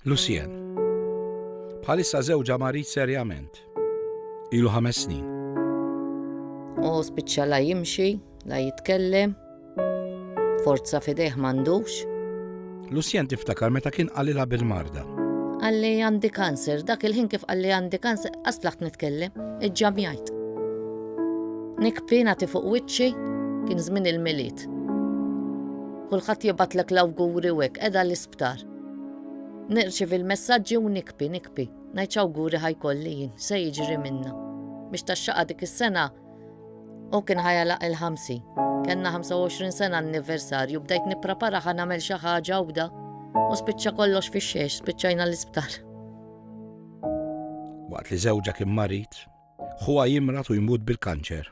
Lucien. Bħalissa żewġa marid serjament. Ilu ħames snin. U spiċċa la jimxi, la jitkellem, forza fidejh m'għandux. Lucien tiftakar meta kien qalilha bil-marda. Għalli għandi kanser, dak il-ħin kif għalli għandi kanser, għaslaħt nitkellem, iġġam jgħid. Nikpina ti fuq wiċċi, kien żmien il-miliet. Kulħadd jibatlek l-awguri wek, edha l Aktar. Nirċivi l-messaġġi u nikpi, nikpi. Ngħid x'awguri ħajkolli jien, se jiġri minna. Biex taxxaqa dik is-sena u kien ħajalaq il-ħamsi. Kenna 25 sena anniversarju, bdejt nipprepara ħa nagħmel xi ħaġa għawda u spiċċa kollox fix-xiex, spiċċajna l-isptar. Waqt li żewġa kien marid, ħuha jimrat u jmut bil-kanċer.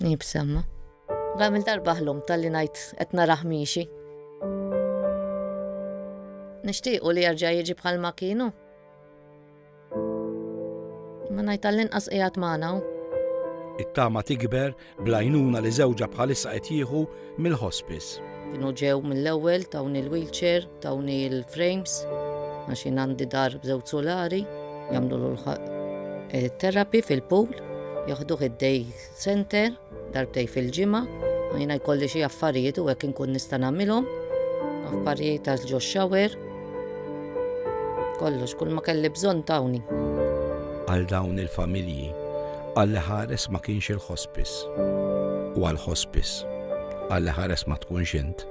Nibsemma. Għamil darba ħlum tal-li najt qed naraħ miexi. Nixtiequ li jarġa' jiġi bħal ma kienu. Ma ngħid tal-inqas qiegħed magħna It-tama tikber blajnuna li żewġa bħalissa qed jieħu mill-hospice. Kienu ġew mill-ewwel tawn il-wheelchair Tawni l-frames għax jien għandi dar b'żewġ solari jagħmlu l terapi fil-pool, joħduh id-day center darbtej fil-ġimgħa, u jiena jkolli xi affarijiet u hekk inkun nista' nagħmilhom, affarijiet għal ġo shower, kollox kull ma kelli bżonn tawni. Għal dawn il-familji, għalli ħares ma kienx il-ħospis. U għal-ħospis, għalli ħares ma tkunx int.